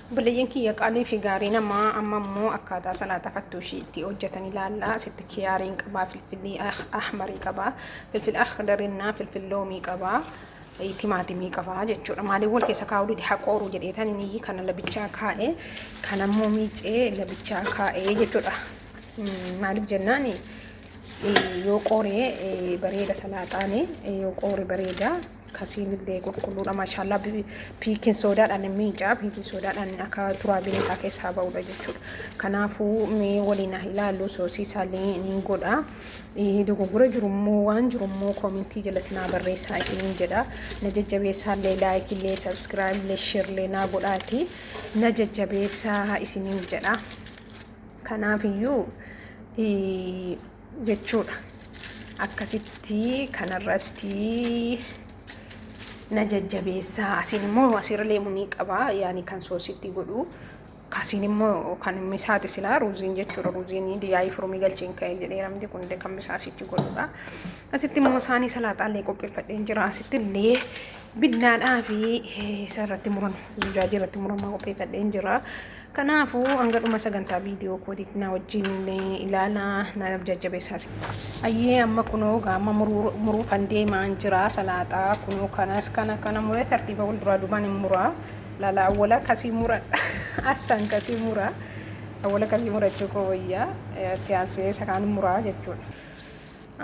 Obboleeyyan kiyya qaalii fi gaarii namaa amma immoo akkaataa salaata fattuushii itti hojjetan ilaalla. Asitti kiyaariin qabaa, filfilii ahmarii qabaa, filfil akhdarinnaa, filfil loomii qabaa, timaatimii qabaa jechuudha. Maaliif wal keessa kaa'uu dide haqooruu jedheetan inni kana labichaa kaa'ee kan ammoo miicee labichaa kaa'ee jechuudha. Maaliif jennaan yoo qooree bareeda salaaxaanii yoo qoore bareeda Kasiin illee qulqulluudha maashaallah piikin soodaadhaan hin miicaa piikin soodaadhaan akka turaa bineetaa keessaa ba'udha jechuudha. Kanaafuu mee waliin haa ilaallu soosii isaallee ni godha. Dogoggora jirummoo waan jirummoo koomentii jalatti naa barreessaa isiniin jedha. Na jajjabeessaallee laayikillee sabskiraayillee sheerlee naa godhaati. Na jajjabeessaa isiniin jedha. Kanaafiyyuu jechuudha. Akkasitti kanarratti na jajjabeessaa. Asiin immoo asirra leemuu ni qaba. Yaani kan soositti godhu. Kasiin immoo kan misaati silaa ruuziin jechuudha. Ruuziin diyaayii furumii galcheen ka'ee jedhee namni kun illee kan misaa asitti godhudha. Asitti immoo saanii salaaxaa illee qopheeffadheen jira. Asitti illee binnaadhaa fi isarratti muran zujaajii irratti muramaa qopheeffadheen jira. Kanaafuu hanga dhuma sagantaa viidiyoo kootiitti na wajjin ilaalaa na jajjabeessaa. Ayyee amma kunoo gaama muruu kan deemaan jira salaaxaa kunoo kanas kana kana muree tartiiba wal duraa duubaan hin muraa lala awwala kasii mura assan kasii mura awwala kasii murachuu koo wayyaa itti aansee isa kaan muraa jechuudha.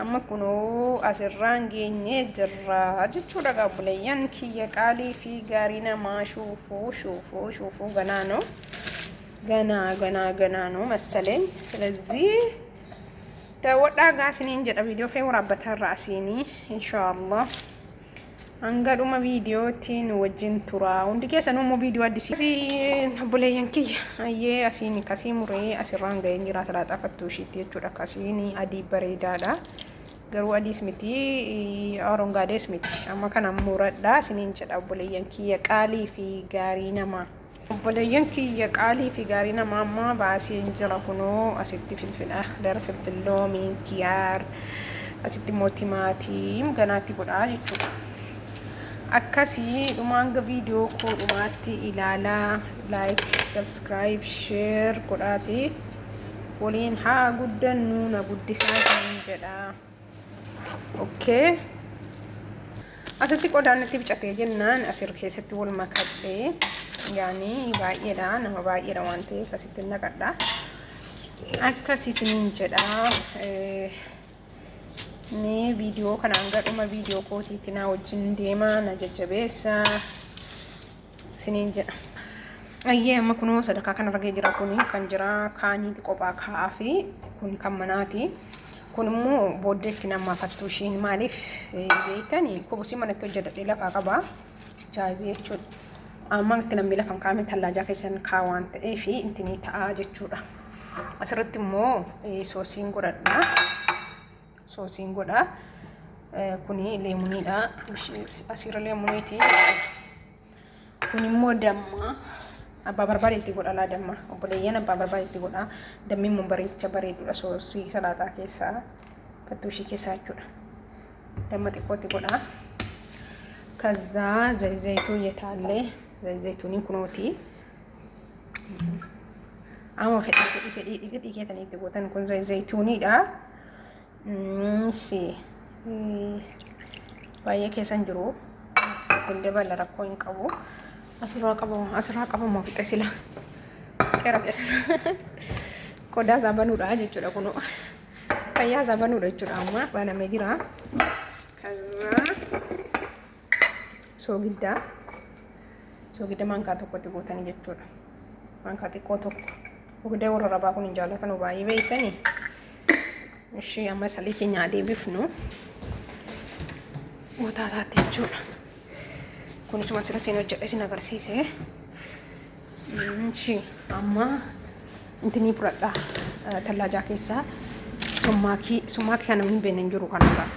Amma kunoo asirraan geenyee jirra jechuudha egaa obboleeyyan kiyya qaalii fi gaarii namaa shuufuu shuufuu shuufuu ganaa noo ganaa ganaa ganaa noo massalee ስለዚህ daawwadhaa gaa isiniin jedha viidiyoo kee waraabbataa irraa asiinii inshaallah Hanga dhuma viidiyootti nu wajjin tura. Hundi keessanuu immoo viidiyoo addisii. Asii obboleeyyan kiyya ayyee asiin kasii muree asirraan ga'een jira salaaxaa fattuu ishiitti jechuudha. Kasiin adii bareedaadha. Garuu adiis miti arongaades miti. Amma kana muradha isiniin jedha obboleeyyan kiyya qaalii fi gaarii namaa. Obboleeyyan kiyya qaalii fi gaarii namaa ammaa baaseen jira kunoo asitti filfil akhdar filfil loomii kiyaar asitti immoo timaatiin ganaatti godhaa jechuudha. Akkasii dhumaan viidiyoo koo dhumaatti ilaalaa laayik sabskiraayib sheer godhaati waliin haa guddannu na guddisaa jedha. okay asitti qodaan natti bicatee jennaan asir keessatti wal makadhee yaani baay'eedha nama baay'eedha waan ta'eef asitti naqadha akkas isiniin jedha mee viidiyoo kana hanga dhuma viidiyoo kootiitti naa wajjin deemaa na jajjabeessa isiniin jedha. Ayyee amma kunoo sadarkaa kanarra ga'ee jira kun kan jira kaaniiti qophaa kaa'aa fi kun kan manaati. Kun immoo booddee itti nammaafattuu ishiin maaliif beekani kubusii manatti hojjetadhee lafaa qaba jaayizii jechuudha. Amma itti namni lafan kaa'ame tallaajaa keessan kaa waan ta'eef itti ni ta'a jechuudha. Asirratti immoo soosiin godhadha. soosiin godha. Kuni leemuniidha. Asiirra leemuniiti. Kun immoo damma. Abbaa barbaade itti godha laa damma. Obboleeyyan abbaa barbaade itti godha. Dammi immoo bareecha bareedudha soosii salaaxaa keessaa. Fattuushii keessaa jechuudha. Damma xiqqootti godha. Kazzaa zayzaytuu jetaallee zayzaytuuniin kunooti. Amma fedhii fedhii fedhii fedhii keessanitti gootan kun zayzaytuuniidha. እሺ baay'ee keessan jiru ittiin dabala rakkoo hin qabu asirraa qabamu asirraa qabamu fixe sila xera keessa qodaa isaa banuudha jechuudha kun fayyaa isaa banuudha jechuudha amma banamee jira kaza soogiddaa soogidda maankaa tokkotti gootanii jechuudha. Maankaa xiqqoo tokko. Soogidda warra rabaa kun hin jaallatanu baay'ee beektanii. Ishii amma salii keenya haa deebifnu. Gootaa isaatti jechuudha. Kunis waan sila seen hojjedhe isin agarsiise. Ishii amma intinii fudhadhaa tallaajaa keessaa summaakii summaakii kana hin beekne hin jiru kanarraa.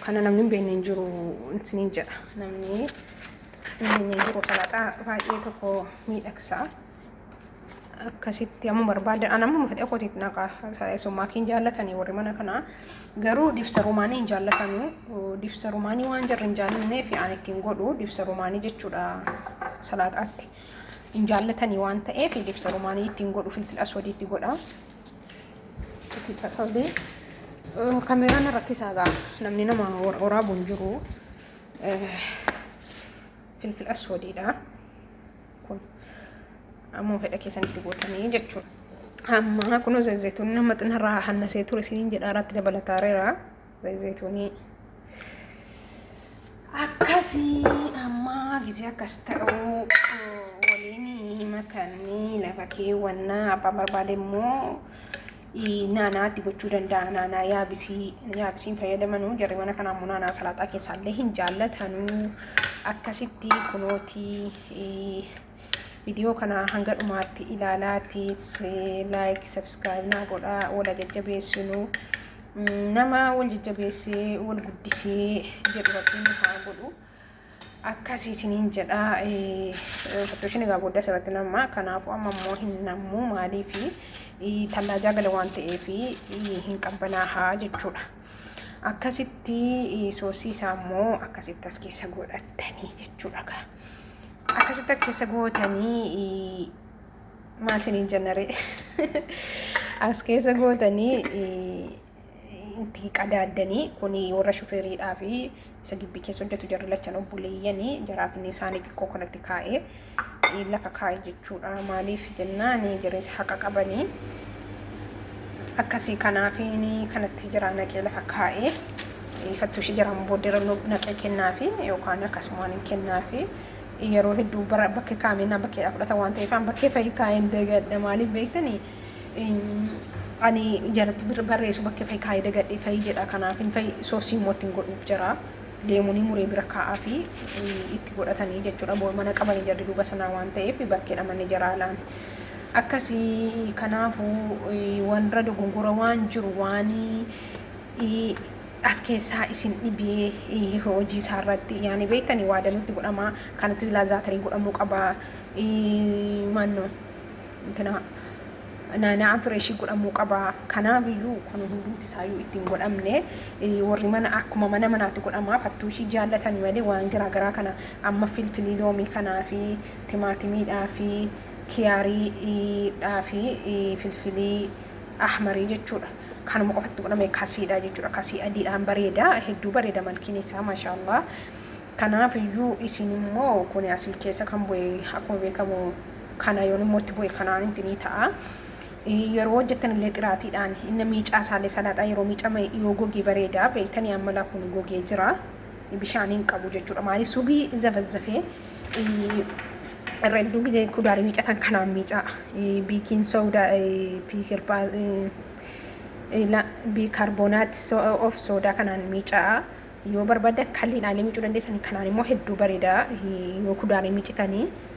Kana namni hin beekne hin jiru isiniin jedha. Namni hin beekne hin jiru salaxaa baay'ee tokko miidhagsa. Akkasitti amma barbaada. An amma fedha kootiif naqa summaa kee hin jaallatanii warri mana kanaa. Garuu dibsa rumaanii hin jaallatanu. Dibsa rumaanii waan jarri hin jaallanneef aan ittiin godhu dibsa rumaanii jechuudha salaaxaatti. Hin jaallatanii waan ta'eef dibsa rumaanii ittiin godhu filfil aswadiitti godha. Fixa sobee. Kameeraan na rakkisaa gaa namni nama wor- woraabu hin jiru. Eh, Filfil aswadiidha. Kun ammoo fedha keessanitti gootanii jechuudha. Amma kunoo zayituun nama xinarraa hannasee ture isiniin jedha irratti dabalataareera. Zayituunii akkasii amma gisee akkas ta'uu waliin makanii lafa keewwannaa abbaan barbaade immoo naanaatti gochuu danda'a naanaa yaabisii yaabisiin fayyadamanuu jarri mana kanaa immoo naanaa salaaxaa keessaallee hin jaallatanuu akkasitti kunootii Viidiyoo kana hanga dhumaatti ilaalaatiis laayik sabskiraayib naa godhaa wala jajjabeessinu nama wal jajjabeessee wal guddisee jedhu rabbiin nu haa godhu. Akkas isiniin jedha fattooshini egaa booda asirratti nama kanaafuu amma immoo hin nammu maaliifi tallaajaa gala waan ta'eef hin qabbanaahaa jechuudha. Akkasitti soosii isaa immoo akkasitti as keessa godhattanii jechuudha. Akkasitti akkasa gootanii maal siniin jennaree as keessa gootanii itti qadaaddanii kun warra shufeeriidhaa fi isa gibbii keessa hojjetu jarri lachan obboleeyyanii jaraa fi isaanii xiqqoo kanatti kaa'ee lafa kaa'e jechuudha maaliif jennaan jireessa haqa qabanii akkasii kanaafiin kanatti jiraa naqee lafa kaa'ee Dhiifattuu ishii jedhamu booddee irra naqee kennaafi yookaan akkasumaan hin kennaafi yeroo hedduu bara bakkee kaameenaan bakkeedhaa fudhata waan ta'eef an bakkee fa'i kaa'een dagadha maaliif beektani ani jalatti barreessu bakkee fa'i kaa'ee dagadhe fa'i jedha kanaaf hin fa'i soosii immoo ittiin godhuuf jira deemuunii muree bira kaa'aa fi itti godhatanii jechuudha boo mana qabanii jarri duuba sanaa waan ta'eef bakkeedha manni jara alaan. Akkasii kanaafuu wanra dogongora waan jiru waan as keessaa isin dhibee hojii isaa irratti yaani beektani waa danutti godhama kanatti silaa zaatarii godhamuu qaba maanno intina naana'aan fireeshii godhamuu qaba kanaaf iyyuu kun hundumti isaa iyyuu ittiin godhamne warri mana akkuma mana manaatti godhama fattuu ishii jaallatan malee waan garaa garaa kana amma filfilii loomii kanaa fi timaatimiidhaa fi kiyaarii dhaa fi filfilii ahmarii jechuudha. kanuma qofatti godhame kasiidha jechuudha kasii adiidhaan bareeda hedduu bareeda malkiin isaa maashaa allah kanaaf iyyuu isin immoo kun asii keessa kan bu'e akkuma beekamu kana yoon immoo itti bu'e kanaan itti ni ta'a. Yeroo hojjetan illee xiraatiidhaan inni miicaa isaallee salaaxaa yeroo miicame yoo gogee bareeda beektanii amma laa kun gogee jira. bishaan hin qabu jechuudha. Maaliif subii zafazzafee irra hedduu gizee kudaarii miicatan kanaan miicaa biikiin soodaa biikarbonaat of soodaa kanaan miicaa yoo barbaadan kalliin aalee miicuu dandeessan kanaan immoo hedduu bareeda yoo kudaarii miicitanii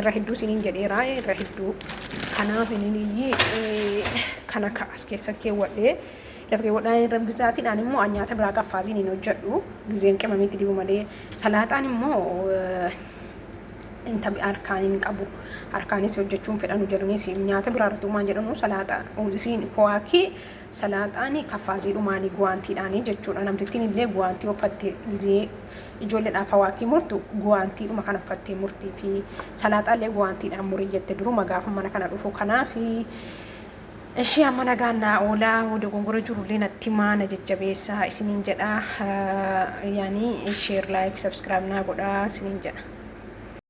irra hedduu isiniin jedheeraa irra hedduu kanaaf inni kana as keessa keewwadhee lafa keewwadhaa irra bisaatiidhaan immoo an nyaata biraa qaffaaziin hin hojjedhu gizeen qimamitti dibu malee salaaxaan immoo inta harkaan hin qabu harkaanis hojjechuun fedhanu jedhunis nyaata biraa irratti uumaan jedhanu salaaxaa isiin kowaakii Salaaxaan kaffaaziidhu maali guwaantiidhaani jechuudha namtittiin illee guwaantii uffatte gizee ijoolleedhaaf hawaakii murtu guwaantiidhuma kana uffattee murtii fi salaaxaa illee guwaantiidhaan murii jette duruma gaafa mana kana dhufu kanaa fi ishee amma nagaan naa oolaa dogongora jirullee natti himaa na jajjabeessaa isiniin jedha yaani sheer laayik sabskiraayib naa godhaa isiniin jedha.